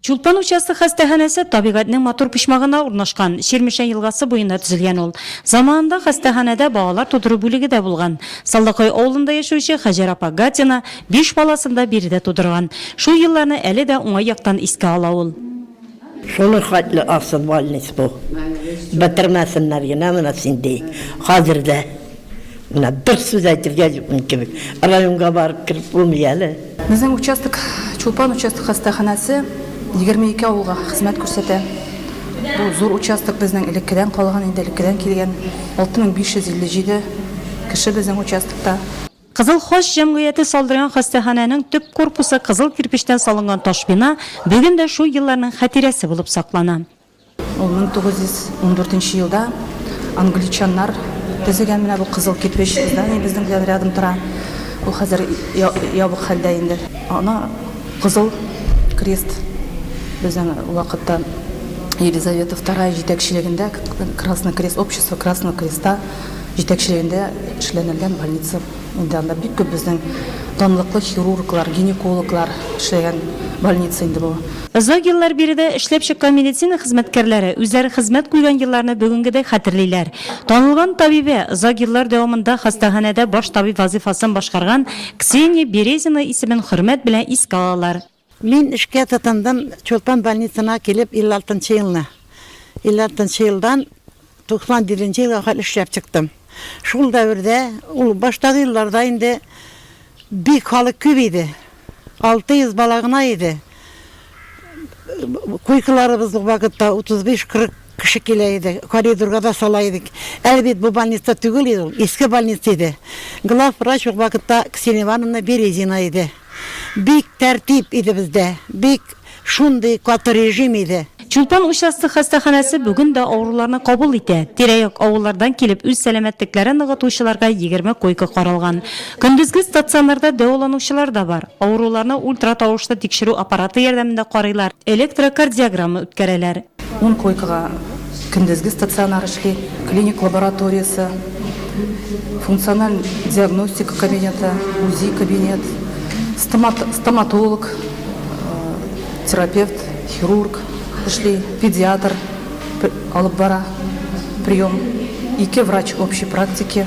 Чулпан участок хастаханәсе табигатьнең матур почмагына урнашкан, Чирмешән елгасы буенда төзелгән ул. Заманында хастаханәдә балалар тудыру бүлеге дә булган. Салдакай авылында яшәүче Хаҗәр апа Гатина биш баласын да биредә тудырган. Шул елларны әле дә уңай яктан искә ала ул. Шуның хәтле аксыз больниц бу. Бетермәсеннәр генә моны син, ди. Хәзер дә. Менә бер сүз әйтергә юкмын кебек. Районга барып кереп булмый әле. Безнең участок Чулпан участок хастаханәсе 22 авылга хезмәт күрсәтә. Бу зур участок безнең элеккедән калган инде, элеккедән килгән. 6557 кеше безнең участокта. Кызыл Хач җәмгыяте салдырган хастаханәнең төп корпусы кызыл кирпечтән салынган таш бина бүген дә шул елларның хатирәсе булып саклана. Ул 1914 елда англичаннар төзегән менә бу кызыл кирпеч здание безнең белән рядом тора. Ул хәзер ябык хәлдә инде. Ана кызыл крест безнең вакытта Елизавета II җитәкчелегендә Красный крест общество Красного креста җитәкчелегендә эшләнелгән больница. Инде анда бик күп безнең данлыклы хирурглар, гинекологлар эшләгән больница инде бу. Озак еллар биредә эшләп чыккан медицина хезмәткәрләре үзләре хезмәт куйган елларны бүгенгедәй хәтерлиләр. Танылган табибә, озак еллар дәвамында хастаханәдә баш табиб вазыйфасын башкарган Ксения Березина исемен хөрмәт белән искә алалар. Мин эшкә тотындым Чулпан больницына килеп 56 нчы елны. 56 нчы елдан 97 нче елга кадәр эшләп чыктым. Шул дәвердә, ул баштагы елларда инде бик халык күп иде. 600 бала гына иде. Койкаларыбыз ул вакытта 35-40 кеше килә иде. Коридорга да сала идек. Әле бит бу больница түгел иде ул, иске больница иде. Главврач ул вакытта Ксения Ивановна Березина иде. Бик тәртип иде бездә, бик шундый каты режим иде. Чулпан участок хастаханәсе бүген дә авыруларны кабул итә. Тирә-як авыллардан килеп үз сәламәтлекләрен ныгытучыларга егерме койка каралган. Көндезге стационарда дәваланучылар да бар. Авыруларны ультратавышлы тикшерү аппараты ярдәмендә карыйлар, электрокардиограмма үткәрәләр. Ун койкага көндезге стационар эшли, клиник лабораториясе, функциональ диагностика кабинеты, УЗИ кабинет, стоматолог, терапевт, хирург эшли, педиатр алып бара прием, ике врач общей практики,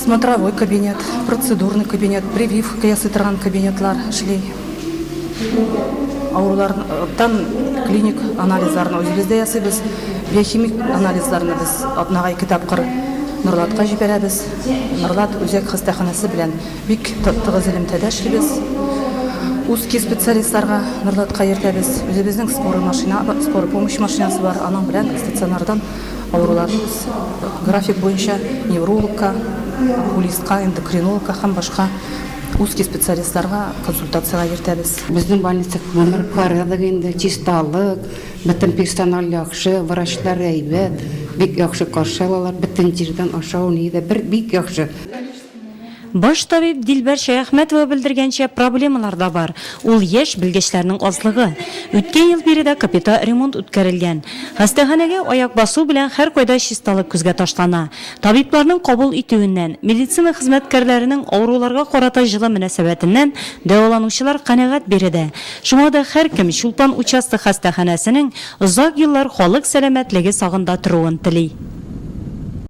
смотровой кабинет, процедурный кабинет, прививка ясый торган кабинетлар эшли. Авырулардан клиник анализларны үзебез дә ясыйбыз. Биохимик анализларны без атнага ике тапкыр Норлатка җибәрәбез. Норлат үзәк хастаханәсе белән бик тыгыз элемтәдә эшлибез. Узкий специалистларга Норлатка йөртәбез. Үзебезнең скорый машина, скорый помощь машинасы бар. Аның белән стационардан авыруларны без график буенча неврологка, окулистка, эндокринологка һәм башка Узкий специалистларга консультациягә йөртәбез. Безнең больница күренеп карадык инде, чисталык, бөтен персональ яхшы, врачлар әйбәт, бик яхшы каршы алалар, бөтен җирдән ашау ни дә бер бик яхшы. Баш табиб Дилбәр Шәяхмәтова белдергәнчә, проблемалар да бар, ул яшь белгечләрнең азлыгы. Үткән ел биредә капита ремонт үткәрелгән. Хастаханәгә аяк басу белән һәркайда чисталык күзгә ташлана. Табибларның кабул итүеннән, медицина хезмәткәрләренең авыруларга карата җылы мөнәсәбәтеннән дәваланучылар канәгать биредә. Шуңа да һәркем Чулпан участок хастаханәсенең озак еллар халык сәламәтлеге сагында торуын тели.